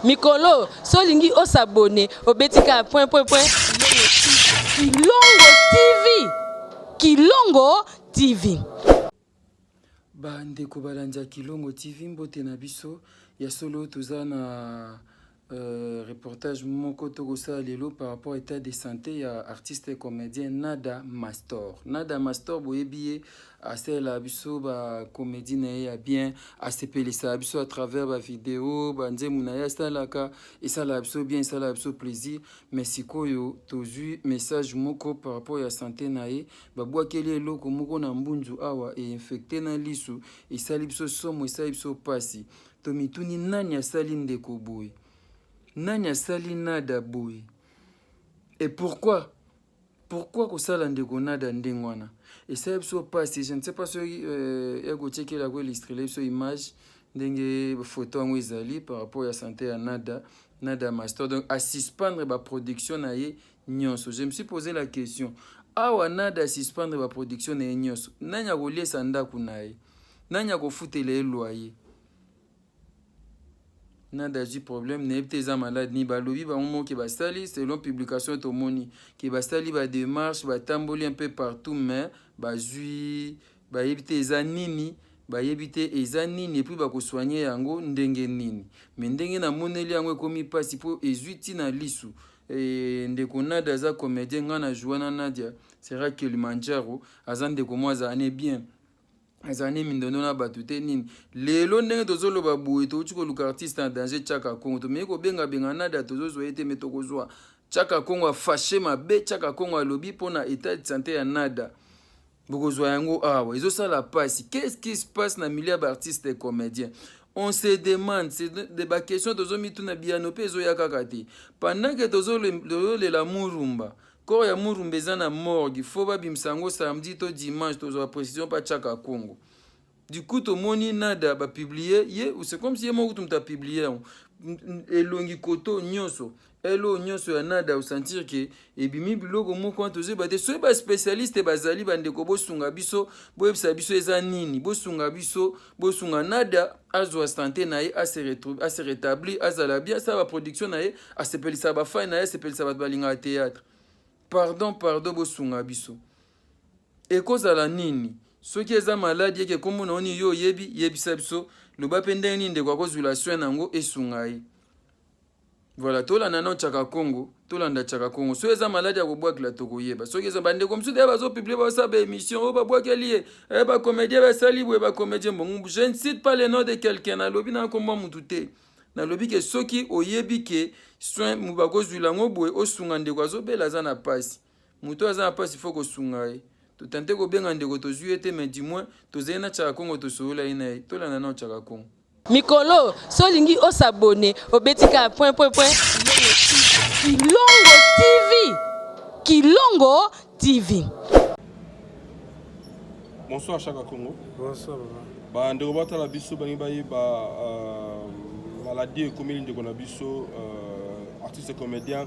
Mikolo, so lingi o s'abonner, obeti ka point point point. Kilongo TV. Kilongo TV. Ba ndeko balandi ya Kilongo TV mbote na biso ya solo toza na Euh, reportage moko tokosala lelo par rapport à état de santé ya artiste comédien nada mastor nada mastor boyebi ye asalela biso ba comédie na ye ya bien asepelisa biso à travers ba video ba nzembo na ye asalaka esalaka biso bien esalaka biso plaisir mais sikoyo tozwi message moko par rapport ya sante na ye babwakeli eloko moko na mbunzu awa einfecte na lisu esali biso somo esali biso mpasi tomituni nani asali ndeko boye nani asali nada boye et pourquoi pourquoi kosala ndeko nada ndenge wana esala biso mpasi je ne sais pas soki euh, ya kotyekela koilistrele biso image ndenge photo yango ezali par rapport ya sante ya nada nada master donc asuspendre baproduction na ye nyonso je me suis posé la question awa nada asuspendre baproduction na ye nyonso nani akoliesa ndako na ye nani akofutela ye loyer nada azwi problème nayebi te eza malade nini balobi bango moko ke basali selon publication tomoni ke basali bademarche batamboli un peu partout mais bazwi bayebi te eza nini bayebi te eza nini epuis bakosoigne yango ndenge nini me ndenge namoneli yango ekomi mpasi mpo ezwi ntina lisu e, ndeko nadia aza comédien ngai na joua na nadia sera kilimanjaro aza ndeko mwa azalane bien ezala nde mindondo na bato te nini lelo ndenge tozoloba boye touti koluka artiste na danger chaka congo tomeki kobengabenga nada tozozwa ye te me tokozwa chaka congo afashe mabe chaka congo alobi mpo na etat de santé ya nada bokozwa yango awa ezosala mpasi qu'est-ce qui se passe na milieu ya baartiste et comédien on se demande c'est de baquestion tozomituna biyano mpe ezoya kaka te pendant ke tozolela murumba Corps ya Murumba eza na morgue, faut babimisa yango samedi to dimanche, tozwa precision pa Chaka Kongo. Du coup tomoni nada ba publier ye, c'est comme si ye moko tumuta publier yango. Elongi koto nyonso, elo nyonso ya nada au sentir que ebimi biloko moko wana tozo ba te soki ba spécialiste bazali bandeko bosunga biso, boyebisa biso eza nini, bosunga biso, bosunga nada azwa sante na ye ase rétablir azala bien asala baproduction na ye asepelisa bafani na ye asepelisa bato balingaka théâtre pardon pardon bosunga biso ekozala nini soki eza maladi yeke nkombo na yo nini yo oyebi yebisa biso loba mpe ndenge nini ndeko akozwila soin na yango esunga ye Voilà, tolanda nao Chaka Congo, tolanda Chaka Congo. Soki eza maladi ya kobwakela tokoyeba. Soki eza bandeko mosusu deya bazopublie basala baémission oyo oh, babwakeli ye eh, bacomédien basali boye bacomédien bongo. Je ne cite pas le nom de quelqu'un, nalobi na nkombo ya motu te. Nalobi ke soki oyebi ke soin bakozwila yango boye osunga ndeko azobela aza na mpasi. Moto aza na pasi faut kosunga ye. Totente kobenga ndeko tozwi ye te mais du moins tozali na Chaka Kongo tosolola ye na ye. Tolanda nao Chaka Kongo. Mikolo, so olingi o s'abonner, obeti kaka point point point Kilongo TV. Kilongo TV. Bonsoir Chaka Kongo. Bonsoir papa. Ba ndeko batala biso bangi bayeba euh, maladie ekomeli ndeko na biso euh, artiste comédien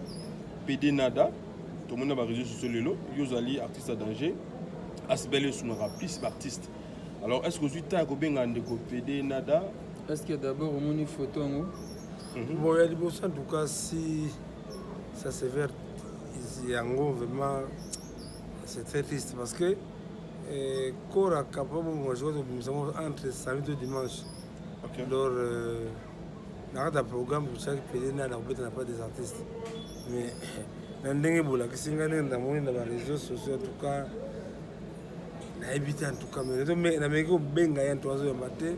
PD Nada. tomoni na bareseau sociaux lelo yo ozali artiste ya danger asbel esungaka plus baartiste alors est ce que ozwi ntan ya kobengaka ndeko pede nada est ce que d'abord omoni photo yango mhm. bon ya liboso en tout cas si ça se vert yango vraiment c'est très triste parce que eh, kora kapa bongo jour tobimisa yango entre samedi to dimanche okay. lors euh, na kati ya programme bosalaki pede nani akobeta na pas des artistes mais na ndenge bolakisi ngai ndenge namoni na bareseau sociaux entouka nayebi te entouka mais nameki kobenga ye nto azoyamba te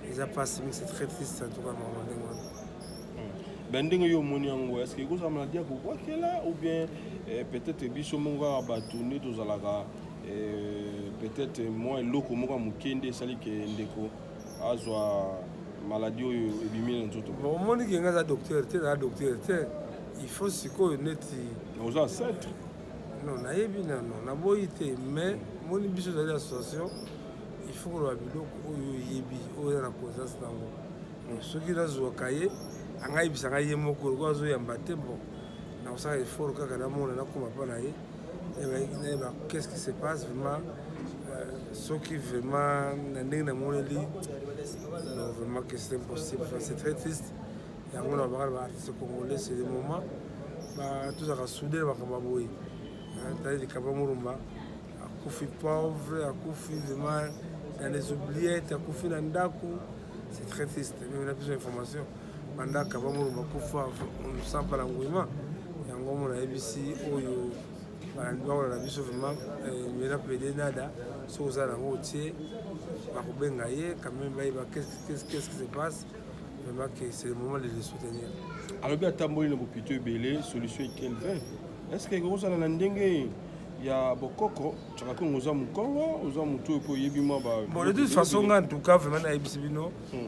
eza mpasi mingi c'est très triste entouka mama ndenge wana hmm. ben ndenge yo omoni yango estce ekozala maladi ya kokwakela ou bien eh, peut-être biso moko kaka bato nde tozalaka eh, peut-être mwa eloko moko ya moke nde esali ke ndeko azwa maladie oyo ebimi na nzoto omoni ke ngai aza docteur te naa docteur te il faut sikoyo neti oza ancêtre non nayebi nano naboyi te mais moni biso ezali association il faut koloba biloko oyo oyebi oyo eza na conscience nango soki nazwaka ye angayebisa ngai ye moko lokola azoyamba te bon nakosala effort kaka namona nakoma mpa na ye qu'est-ce qui se passe vraiment euh, soki vraiment na ndenge namoneli non vraiment que c'est impossible enfin, c'est très triste yango na bakala baartiste congolais c'est le moment tozalaka soude na makambo ya boye tali likaba molumba akufi pauvre akufi vraiment dans les oubliettes akufi na ndako c'est très triste meme na biso information bandaka bamono bakufa sampa na nguima yango mono ayebisi oyo balandi bango na biso vraiment eh, mena pede nada soki oza nango otie bakobenga ye quand même bayeba qu'est-ce qui se passe vraiment que c'est le moment de le soutenir alobi atamboli na bopito ebele solution ekelvin est ce que ekozala na ndenge ya bokoko tyaka kongo oza mokongo oza motu oyo mpo oyebi mwa ba bon de toute façon nga en tout cas vraiment nayebisi bino hmm.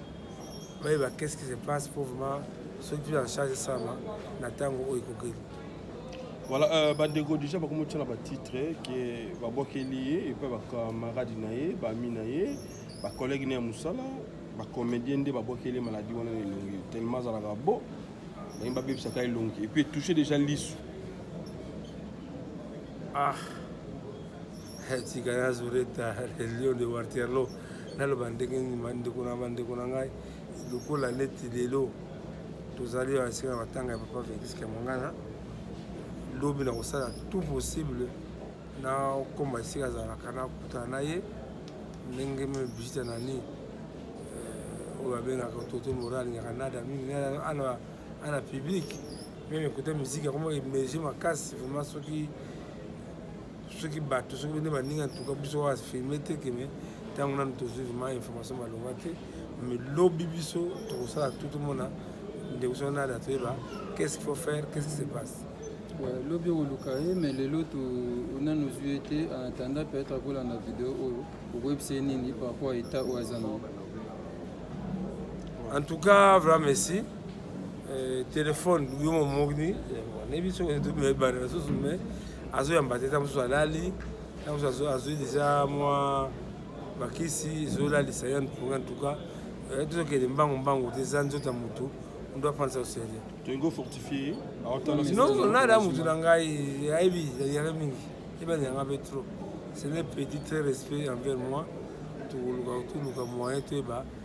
bayeba qu'est-ce qui se passe pour vraiment soki tu en charge sama na ntango oyo ekokeli voilà euh, bandeko déjà bakomi otyana batitre ke babwakeli ye epai bacamarade na ye baami na ye bacollègue na ya mosala bacomédien nde babwakeli ye maladi wana na elongi tellement azalaka bo balingi babebisaka elongi epuis touche déjà lisu ah tika nazo reta le lion de waterloo naloba ndenge nini bandeko na bandeko na ngai lokola neti lelo tozali ya esika na matanga ya papa felix kamangana lobi nakosala tout possible nakoma esika azalaka nakutana na ye ndenge meme bigita nani euh, oyo abengaka toto mora alingaka nada mingi ana publike meme ekota miziki akomaki emerge makasi vraimen soki soki bato soki bende baninga ntuka biso oyo afilme te keme ntango nanu tozwi vraimen information malonga te me lobi biso tokosala tout tomona ndeko soki nada toyeba qu'est ce qu'il faut faire qu'est ce qui se passe lobi okoluka ye me lelo nanu ozwi ye te en attendant peut-être akolanda video oyo okoyebisa ye nini par rapport ya etat oyo aza nango en tout cas vraiment merci Euh, telefone yo momoni nayebi soki ebanda lisusu me azoyamba te ta mosusu alali ta mosusu azwi deja mwa bakisi ezolalisa ye mponga antuka euh, tozokende mbangu mbangu te eza nzoto ya motu ndo apanisa osele non nada motu na ngai ayebi yaka mingi ebani yanga mpe trop ce n'est petit très respect envers moi tokoluka toluka moyen toyeba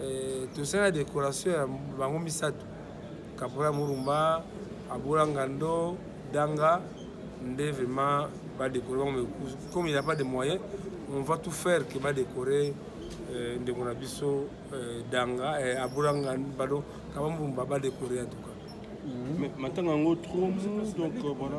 Eh, tosala decoration ya bango misato kapola murumba abola ngando danga nde vraiment badekore bango mais comme il n'y a pas de moyen on va tout faire que badekore eh, ndeko na biso eh, danga abola ngando pardon kaba murumba badekore en tout cas mhm. matanga yango trop donc euh, voilà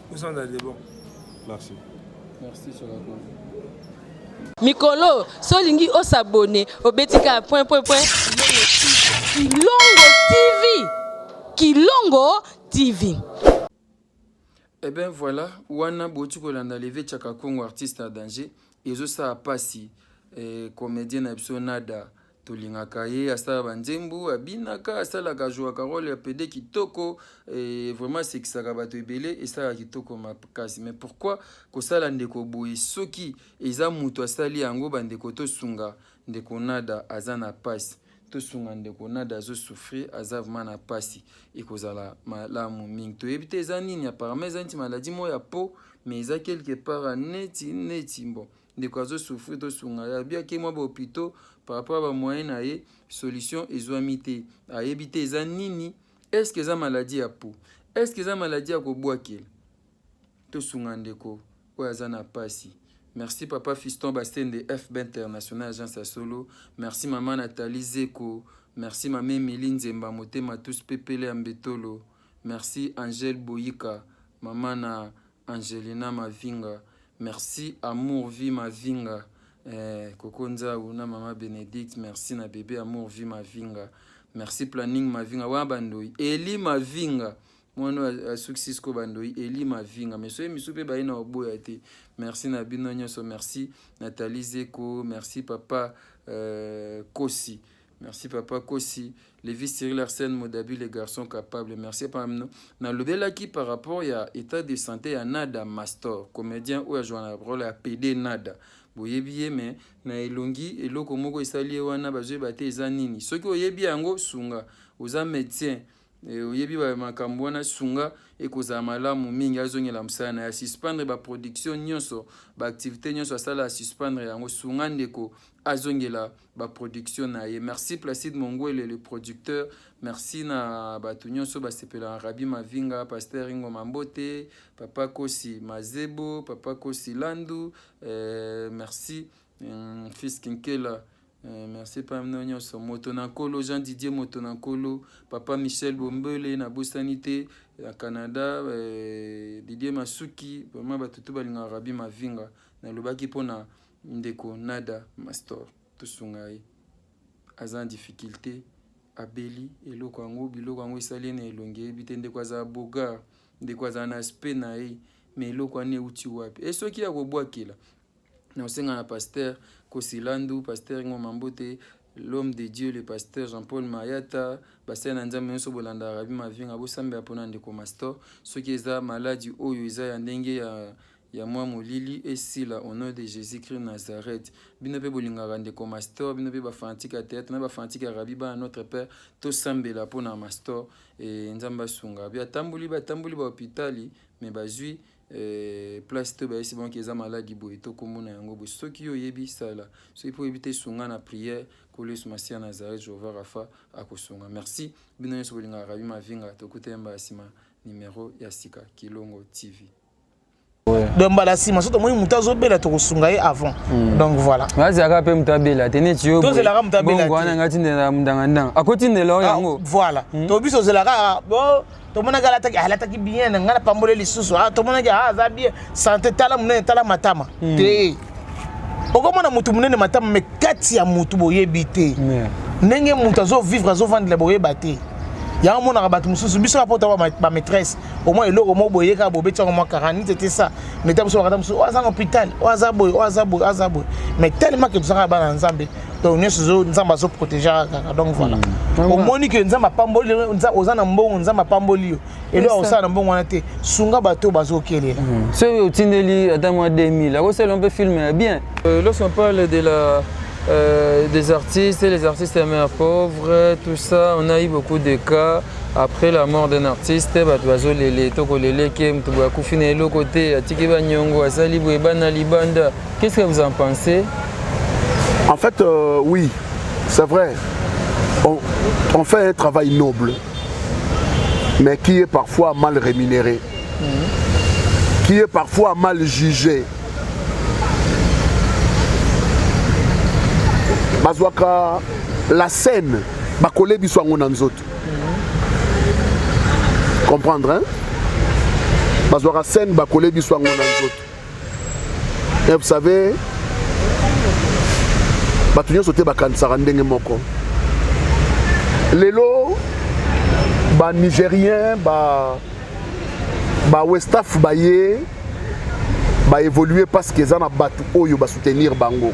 Osanda de bon. Merci. Merci Solako. Mikolo, so olingi osabone, obeti kaka point point point. Kilongo TV. Kilongo TV. Eh bien voilà, wana boti kolanda leve Chaka Kongo artiste à danger. Ezo sa pasi eh, comédien na biso Nada. tolingaka ye asala banzembo abinaka asalaka jouaka role ya pede kitoko e, vraiment asekisaka bato ebele esalaka kitoko makasi mais pourquoi kosala ndeko boye soki eza moto asali yango bandeko tosunga ndeko nada aza na pasi tosunga ndeko nada azosouffrir aza vrema na mpasi ekozala malamu mingi toyebi te eza nini apparemment eza neti maladi moko ya po mais eza quelque part neti neti bon ndeko azo souffrir tosunga ye alobi ake mwa bahopitaux par rapport ya bamoyen na ye solution ezwami te ayebi te eza nini estce eza maladi ya po estce eza maladi ya kobwakela tosunga ndeko oyo aza na mpasi merci papa fiston basende fb international agence ya solo merci mama natali zeko merci mama emili nzemba motema tous pepele ya mbetolo merci angel boyika mama na Angelina Mavinga merci amour vie Mavinga eh, Koko Nzau na mama Benedicte merci na bebe amour vie Mavinga merci planning Mavinga wana bandoi Eli Mavinga mwana oyo asukisi siko bandoi eli mavinga me soki misu mpe baye na oboya te merci na bino nyonso merci natali zeko merci papa euh, kosi Merci papa Kosi, Levi Cyril Arsène Modabi les garçons capables. Merci papa mno. Na lobelaki par rapport ya état de santé ya Nada Mastor, comédien oyo ajwa na rôle ya PD Nada. Boyebi ye mais na elongi eloko moko esali ye wana bazoyeba te eza nini. Soki oyebi yango sunga, oza médecin eh, oyebi ba makambo wana sunga ekozala malamu mingi azongela mosala na ye asuspendre baproduction nyonso baactivité nyonso asala asuspendre yango sunga ndeko azongela ba production na ye merci placide mongwele le producteur merci na bato nyonso basepela na rabi mavinga paster ingo mambote papa kosi mazebo papa kosi landu euh, merci euh, fils kinkela Euh, merci mpa mino nyonso moto na nkolo jean didier moto na nkolo papa michel bombele nabosani te ya canada euh, didier masuki vraimen bato to balingaka rabi mavinga nalobaki mpo na Ndeko Nada Mastor tosunga ye aza na difficulté abeli eloko yango biloko yango esali ye na elongi eyebi te ndeko azala bogar ndeko azala na aspect na ye me eloko wana euti wapi e soki ya kobwakela nakosenga na paster kosilandu paster ngoma mbote l'homme de Dieu le pasteur Jean-Paul Mayata basali na nzambe nyonso bolanda Rabbi Mavinga bosambela mpo na ndeko Mastor soki eza maladi oyo eza ya ndenge ya ya mwa molili esila au nom de Jésus-Christ Nazareth bino mpe bolingaka ndeko Mastor bino mpe bafanatike ya théâtre na bafanatike ya Rabbi bana notre père tosambela mpo na Mastor e nzambe asunga bi atamboli batamboli bahopitali me bazwi Eh, place to bayesi bango eza maladi boye to nkombo na yango boye soki yo oyebi sala soki mpo oyebi te sunga na priere nkolo yesu masiya nazaret jehova rafa akosunga merci bino nyonso bolingaka rabi mavinga tokutani mbala nsima nimero ya sika kilongo tv donc mbala nsima so tomoni moto azobela tokosunga ye avant hmm. donc voilà azalaka mpe moto abela te neti yo tozelaka moto abela te wana ngai tindela mondangandanga akotindela oyo ah, yango voilà hmm. to biso ozelaka ah, tomonaki alataki alataki bien na ngai napamboli lisusu ah, tomonaki ah, aza bien sante tala monene tala matama hmm. te okomona motu monene matama me kati ya motu boyebi te ndenge motu azovivre azovandela boyeba te yango omonaka bato mosusu biso kaka mpota bamaîtresse omwa eloko moko boye kaka bobeti yango mwa karani tete sa meta mosusu bakata mosusu oyo aza na hôpital oyo aza boye oyo aza boye oyo aza boye mais tellement ke tozalaka bana nzambe donc nyonso ezo nzambe azo protege kaka donc voilà hmm. omoni ke nzambe apamboli oza na mbongo nzambe apamboli yo elo akosala na mbongo wana te sunga bato bazokelela hmm. soki otindeli ata mwa 2000 akosala mpe filme ya bien euh, lorsqu'on parle de la Euh, des artistes et les artistes à mère pauvre, tout ça, on a eu beaucoup de cas. Après la mort d'un artiste, bato bazolele tokoleleke moto boye akufi na eloko te atiki banyongo asali boye bana libanda Qu'est-ce que vous en pensez En fait, euh, oui, c'est vrai. On, on, fait un travail noble, mais qui est parfois mal rémunéré, mm -hmm. qui est parfois mal jugé. Bazwaka la scène bakole biso yango na nzoto comprendre hein? bazwaka scène bakole biso yango na nzoto Et vous savez, bato nyonso te bakanisaka ndenge moko lelo banigérien ba, ba westaf baye baévolue parce que eza na bato oyo basoutenir bango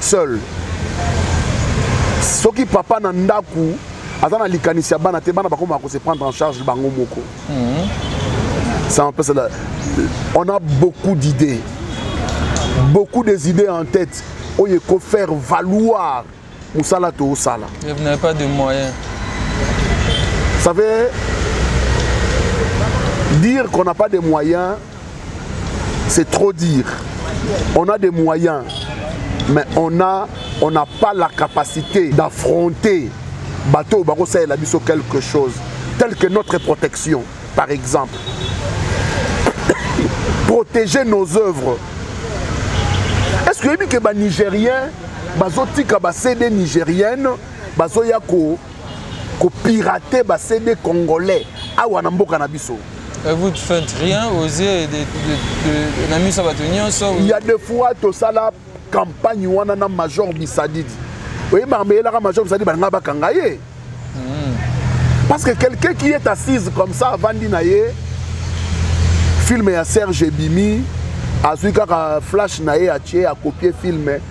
seul soki papa na ndaku aza na likanisi ya bana te bana bakoma ko se prendre en charge bango moko mhm. ça en pesa on a beaucoup d'idées beaucoup des idées en tête oyo eko faire valoir mosala toosala vous n'avez pas de moyens ça veut dire qu'on n'a pas de moyens c'est trop dire on a des moyens mais on a on n'a pas la capacité d'affronter bateau bakosalela biso quelque chose tel que notre protection par exemple protéger nos œuvres est-ce que oyebi ke banigérien bazotika basede nigérienne bazoya ko ko pirater ba CD congolais awa na mboka na biso Euh, vous ne faites rien aux yeux de, de, de, de na miso ya bato nyonso il y a des fois tosala campagne wana na major bisadidi oyeba makambo eyelaka major bisadidi balinga bakanga ye hmm. parce que quelqu'un qui est assise comme ça avandi na ye film ya serge ebimi azwi kaka flash na ye atie akopie film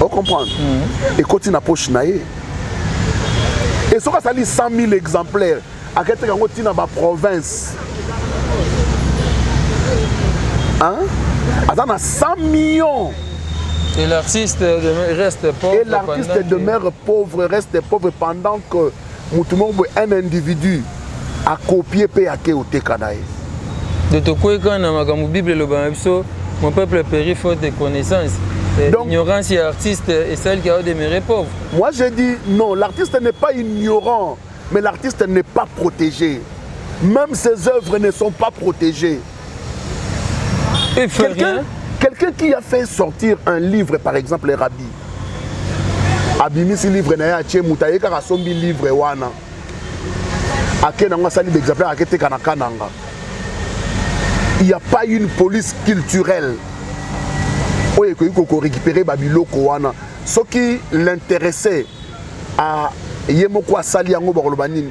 o comprendre mm. ekoti na poche na ye e soki asali 100 000 exemplaire aketeka yango ntina baprovince aza na 100 millions Et l'artiste demeure reste pauvre. Et l'artiste demeure pauvre, reste pauvre pendant que mutu moko boye un individu akopie mpe ake oteka na ye de tokweka na makambo bible eloba na biso mon peuple péri faute de connaissance eh, Donc, ignorance ya artiste et celle qui a demeuré pauvre moi j'ai dit non l'artiste n'est pas ignorant mais l'artiste n'est pas protégé même ses œuvres ne sont pas protégées Il fait quelqu'un, rien. Quelqu'un qui a fait sortir un livre, par exemple, les rabbis, abimisi livre na ye atie moto aye kaka asombi livre wana ake nango asali baexemplaire ake teka na kananga il n'y a pas une police culturelle oyo ekoki kokorécupere babiloko wana soki l'intéressé ye moko asali yango bakoloba nini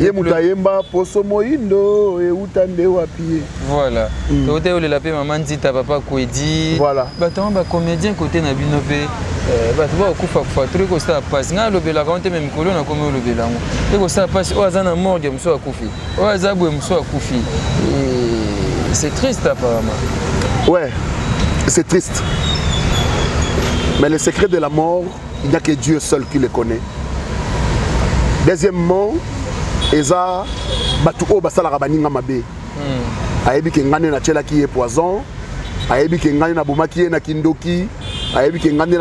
ye moto ayemba poso moyindo euta nde wapi ye voilà mm. tokote yolela mpe mama nzita papa kwedi voilà bato yango bacomédien kote na bino mpe eh, bato bakokufakufa to ekosala mpasi ngai alobelaka yango te me mikolo nakomi olobela yango ekosala mpasi oyo aza na morgue mosusu akufi oyo aza boye mosusu akufi eh, c'est triste apparemment ouais c'est triste mais le secret de la mort il n'y a que Dieu seul qui le connaît deuxièmement eza bato oyo basalaka baninga mabe hmm. ayebi ke ngai nde natyelaki ye poison ayebi ke ngai nabomaki ye na kindoki ayebi ke ngai nde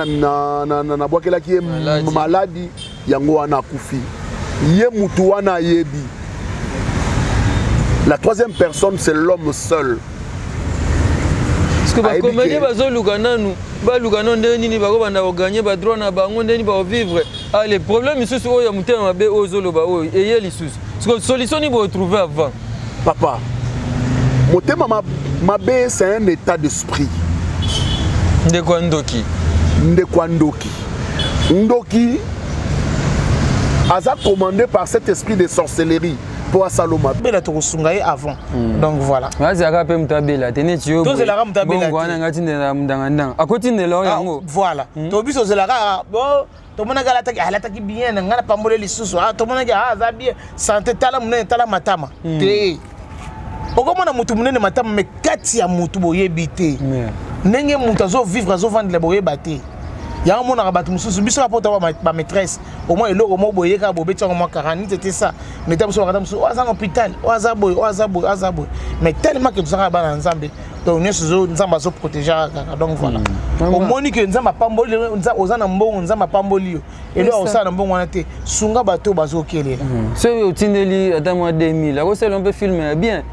nabwakelaki ye maladi yango wana akufi ye motu wana ayebi la troisième personne c'est l'homme seul parceke bakomedie bazoluka nanu baluka no ndenge nini bakobanda koganye badroit na bango ndenge nini bakovivre ale problème lisusu oyo ya motema mabe oyo ozoloba oyo eye lisusu siko solution nini boretrouve avant papa motema mabe c'est un état d'esprit ndeko ya ndoki ndeko ya ndoki ndoki aza commandé par cet esprit de sorcellerie mpo asala mabe bela tokosunga ye avant hmm. donc voilà azalaka mpe moto abela te neti yo tozelaka moto abelawana nga tindela mndangandanga akotindela yo ah, yango voilà hmm. to biso ozelaka ah, bo tomonaki alataki alataki bien na ngai napambole lisusu ah, tomonaki aza bien sante tala monene tala matama hmm. te okomona motu monene matama me kati ya motu boyebi te ndenge motu azovivre azovandela boyeba te yango omonaka bato mosusu biso bapota bamaîtresse au moins eloko moko boye kaka bobeti yango mwa 40 minutes ete ça mais ta mosusu bakata mosusu oyo aza na hôpital oyo aza boye oyo aza boye aza boye mais tellement que tozalaka bana ya nzambe donc nyonso zo nzambe azo protégeaka kaka donc voilà hmm. omoni que nzambe apamboli lelo oza na mbongo nzambe apamboli yo eloko akosala na mbongo wana te sunga bato oyo bazokelela hmm. soki otindeli ata mwa 2000 akosala mpe filme ya bien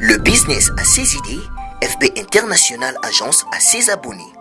Le business à ses idées, FB International Agence à ses abonnés.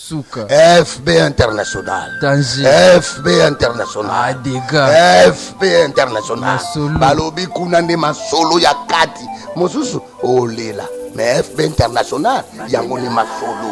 Suka. FB international. Danger. FB international. Ah, dégâts. FB international. Masolo. Balobi kuna nde masolo ya kati. Mosusu olela. Mais FB international yango nde masolo.